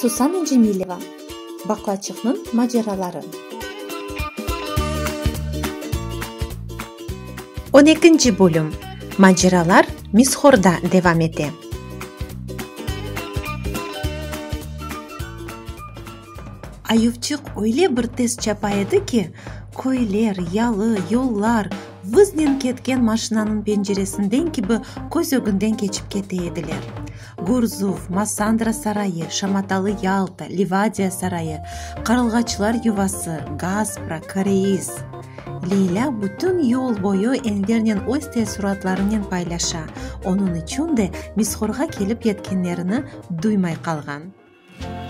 Susana Cemileva, Baqlaçıqnıñ maceraları. On ekinci bölüm, Maceralar Mishorda devam ete. Ayubçıq öyle bir tez çapa edi ki, köyler, yalı, yollar vıznen ketken maşinanıñ penceresinden kibi köz ögünden keçip kete ediler. Gurzuv, Massandra sarayı, şamatalı Yalta, Livadiya sarayı, qarılğaçlar yuvası, Gaspra, Koreis. Leylâ bütün yol boyu enlernen öz teessuratlarınen paylaşa, onıñ içün de Misxorğa kelip yetkenlerini duymay qalğan.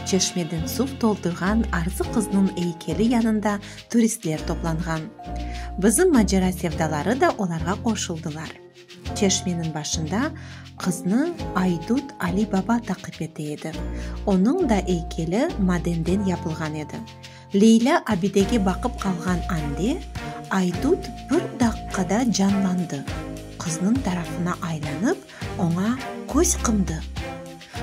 Çeşmeden suv toldurğan Arzı qıznıñ eykeli yanında turistler toplanğan. Bizim macera sevdaları da olarğa qoşuldılar. Çeşmeniñ başında qıznı aydut Ali Baba taqip ete edi. Onıñ da eykeli madenden yapılğan edi. Leylâ abidege baqıp qalğan ande, Aydut bir daqqada canlandı, qıznıñ tarafına aylanıp, oña köz qımdı.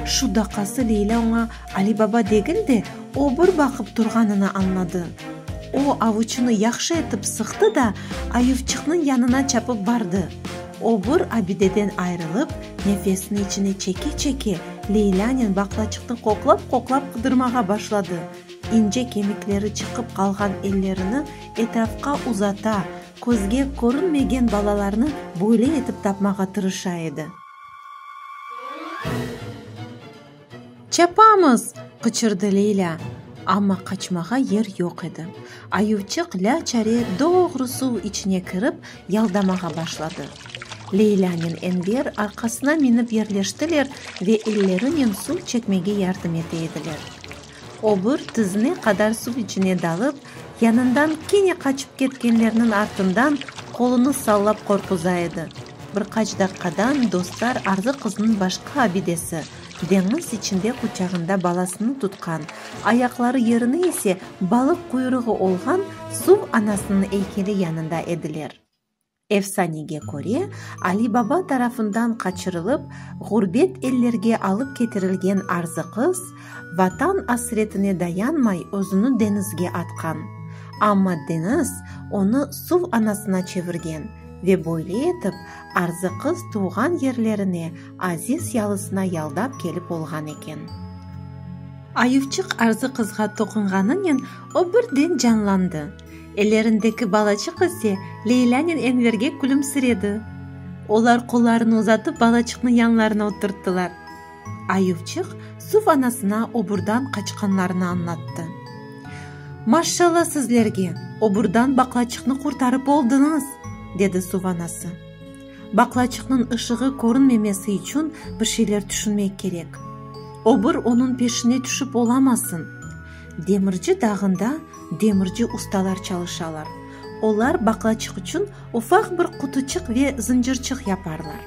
Şu daqası Leylâ oña Ali baba degil de, obur baqıp turğanını añladı. O, avuçını yahşı etip sıqtı da, ayuvçıqnıñ yanına çapıp bardı. Obur abideden ayrılıp, nefesini içine çeke-çeke, Leylânen baqlaçıqnı qoqlap-qoqlap qıdırmağa başladı. ince kemikleri çıqıp qalğan ellerini etrafqa uzata, közge körünmegen balalarnı böyle etip tapmağa tırışa edi. Çapamız! qıçırdı Leylâ, amma qaçmağa yer yoq edi. Ayuvçıq lâ-çare doğru suv içine kirip, yaldamağa başladı. Leylânen Enver arqasına minip yerleştiler ve ellerinen suv çekmege yardım ete ediler. Obur tizine qadar suv içine dalıp, yanından kene qaçıp ketkenlerniñ artından qolunı sallap qorquza edi. Bir qaç daqqadan dostlar arzı qıznıñ başqa abidesi, deñiz içinde quçağında balasını tutqan, ayaqları yerine ise balıq quyruğı olğan suv anasınıñ eykeli yanında ediler. Efsanege köre, Ali Baba tarafından qaçırılıp, ğurbet ellerge alıp ketirilgen arzı qız, Vatan asretine dayanmay özüni deñizge atqan. Amma deñiz onı suv anasına çevirgen ve böyle etip arzı qız tuvğan yerlerine aziz yalısına yaldap kelip olğan eken. Ayuvçıq arzı qızğa toqunğanınen o birden canlandı. Ellerindeki balaçıq ise Leylânen Enverge külümsiredi. Olar qollarını uzatıp balaçıqnı yanlarına oturttılar. Ayuvçıq suv anasına oburdan qaçqanlarını añlattı. Maşşalla sizlerge, oburdan baqlaçıqnı qurtarıp oldıñız! dedi suv anası. Baqlaçıqnıñ ışığı körünmemesi içün bir şeyler tüşünmek kerek. Obur onıñ peşine tüşip olamasın. Demirci dağında Demirci ustalar çalışalar. Olar baqlaçıq içün ufaq bir qutuçıq ve zıncırçıq yaparlar.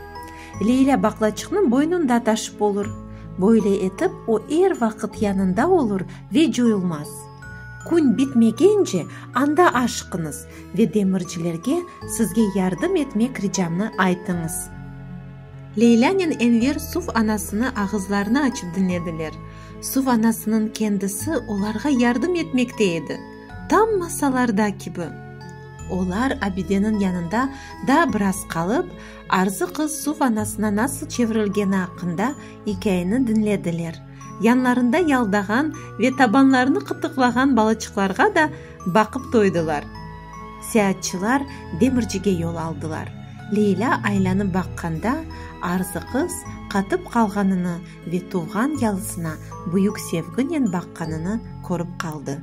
Leyla baqlaçıqnı boynunda taşıp olur. Böyle etip, o er vaqıt yanında olur ve coyulmaz. Kün bitmegence anda aşıqıñız ve demircilerge sizge yardım etmek ricamnı aytıñız. Leylânen Enver suv anasını ağızlarını açıp diñlediler. Suv anasınıñ kendisi olarğa yardım etmekte edi, tam masallarda kibi. Olar abideniñ yanında daa biraz qalıp, Arzı qız suv anasına nasıl çevirilgeni aqqında ikâyeni diñlediler, yanlarında yaldağan ve tabanlarını qıtıqlağan balaçıqlarğa da baqıp toydılar. Seatçılar demircige yol aldılar. Leylâ aylanıp baqqanda, Arzı qız qatıp qalğanını Ve tuvğan yalısına büyük sevginen baqqanını körip qaldı.